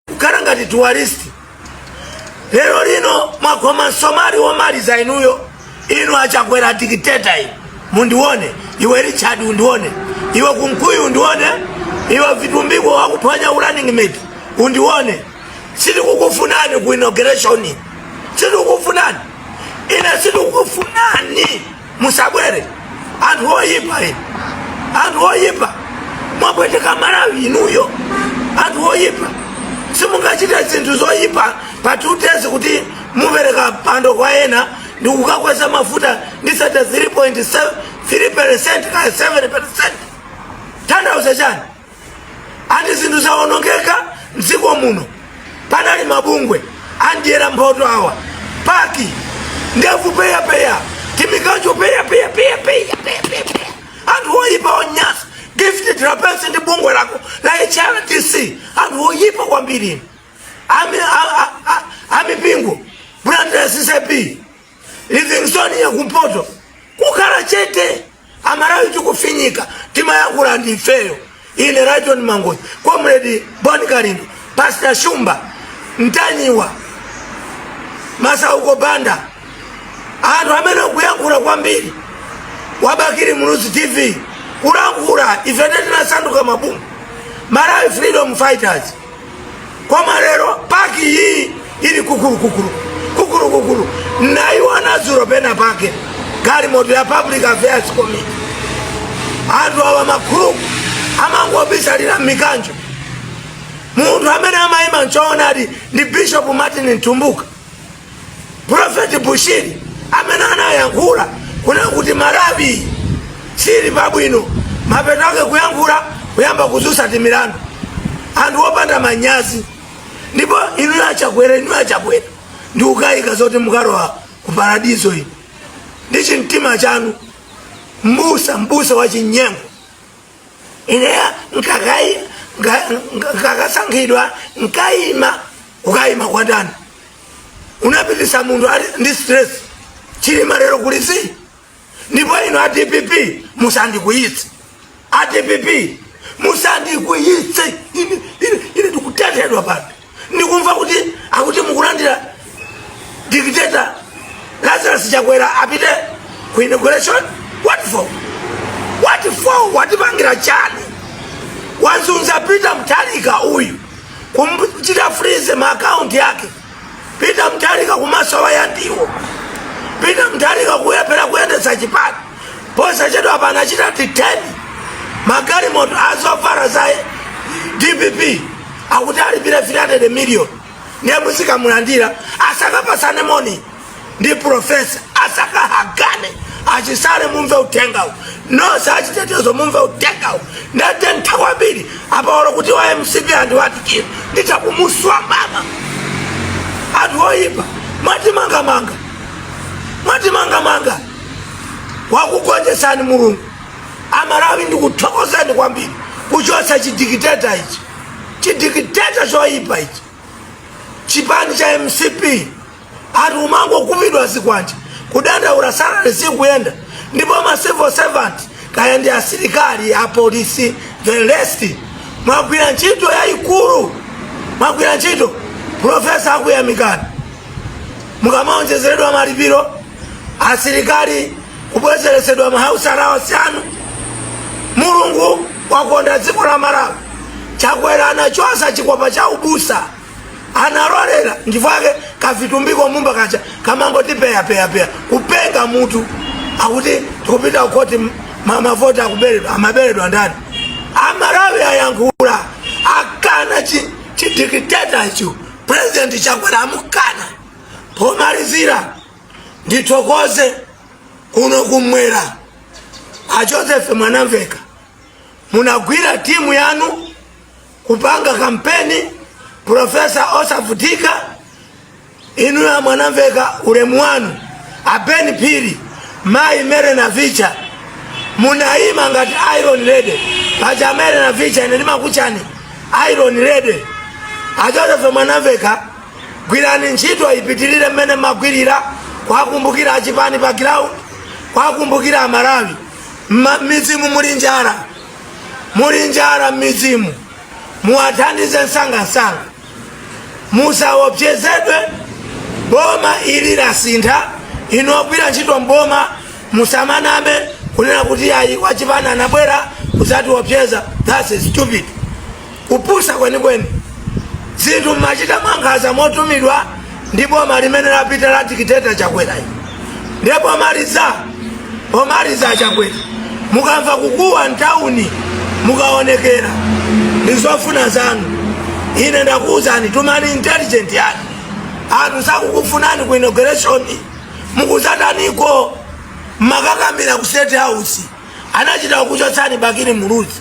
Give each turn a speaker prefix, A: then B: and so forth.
A: kukhala ngati tourist lero lino mwakhoma msomali womaliza inuyo inu achakwera dikiteta inu mundione iwe richard undione iwe kunkuyu undione iwe vitumbiko wakuphonya urunning mate undione sitikukufunani ku inauguration sitikukufunani ine sitikukufunani musabwere anthu oyipa inu anthu oyipa mwapweteka malawi inuyo anthu oyipa simungachite zinthu zoyipa pa two days kuti mupereke mpando kwa ena ndi kukakweza mafuta ndi 33.3 percent kaya 7 percent tanthauza chani ati zinthu zawonongeka mdziko muno panali mabungwe andiyera mphoto awa paki ndevu peyapeya timikanjo peyapeyapeyapeyapeyapeya anthu oyipa onyasa gift trapence ndi bungwe lako la hrdc anthu oyipa kwambiri amipingo blantyre ccap livingstonia yakumpoto kukhala chete amalawi tikufinyika timayankhula ndi ifeyo ine lyton mangochi comrade bon kalindo pastor shumba mtanyiwa masauko banda anthu amene akuyankhula kwambiri wa bakili muluzi tv kulankhula ife tinasanduka mabungwe malawi freedom fighters koma lero paki iyi ili kukulukukulu kukulukukulu nayiona dzulo pena pake galimoto ya public affairs committee anthu awa makuluku amangobisalira m'mikanjo munthu amene amayima mchoonadi ndi bishop martin mtumbuka profeti bushiri amene anayankhula kunena kuti malawi sili pabwino mapeto ake kuyankhula kuyamba kuzusa timilandu anthu opanda manyazi ndipo inu achakwera inu achakwera ndikukayika zoti mukalowa ku paradizo inu ndi chimtima chanu mbusa mbusa wa chinyengo ineya nkakai nkakasankhidwa nkaima ukaima kwa ndani unapitisa munthu ali ndi stress chilima lero kulisi ndipo inu a dpp musandikwiyitse a dpp musandikwiyitse ine ine- ine ndikutenthedwa pano ndikumva kuti akuti mukulandira dictator lazarus chakwera apite ku inauguration what for what for watipangira chani wazunza peter mtalika uyu kumchita freeze maakaunti yake peter mutharika kumasowa ya ndiwo peter mutharika kulephera kuyendesa chipani posachedwa panachita diteni magalimoto awofala za dpp akuti alipire 300 million ndiye muzikamulandira asakapasane moni ndi profesa asakahagane a Chisale mumve uthengawu nonse achitetezo mumve uthengawu ndathokoza kwambiri apaolo kuti wa mcp andiwatikira nditakumuswa mama anthu oyipa mwatimangamanga mwatimangamanga wakugonjetsani mulungu amalawi ndikuthokozeni kwambiri kuchotsa chidikiteta ichi chidikiteta choyipa ichi chipani cha mcp ati kumangokhapidwa zikwanje kudandaula salary sikuyenda ndipo ma civil servant kaya ndi asilikali apolisi the rest mwagwira ntchito yayikulu mwagwira ntchito profesa akuyamikani mukamaonjezeredwa malipiro asilikali kubwezeretsedwa ma house allowance anu mulungu wakonda dziko la malawi chakwera anachotsa chikopa cha ubusa analolera ndivake ka Vitumbiko Mumba kaja kamangoti peyapeyapeya kupenga mutu akuti tikupita kukoti ma- mavoti akuberedwa amabera ndani amalawi ayankhula akana chi- chidikiteta icho president chakwera amukana pomalizira ndithokoze kuno kumwera a joseph mwanamveka munagwira timu yanu kupanga kampeni profesa osavutika inu a mwanamveka ulemu wanu a Ben Phiri mayi Mary Navicha munayima ngati iron lady paja Mary Navicha ine ndimakutchani iron lady a joseph mwanamveka gwirani ntchito ipitirire mmene mmagwirira kwakumbukira achipani pa ground kwakumbukira amalawi Mma- m'midzimu muli njala muli njala m'midzimu muwathandize msangamsanga musaopsezedwe boma ili lasintha inu ogwira ntchito mboma musamaname kunena kuti ayi wachipani anabwera kuzatiopseza thats stupid kupusa kwenikweni zinthu mmachita mwankhanza motumidwa ndi boma limene lapita la dikiteta chakwerayi ndiye pomaliza pomaliza achakwera mukamva kukuwa mtawuni mukaonekera ndi zofuna zanu ine ndakuwuzani tumani intelligence yanu anthu sakukufunani ku inauguration mukuzataniko mmakakamira ku state house anachita kukuchotsani bakili muluzi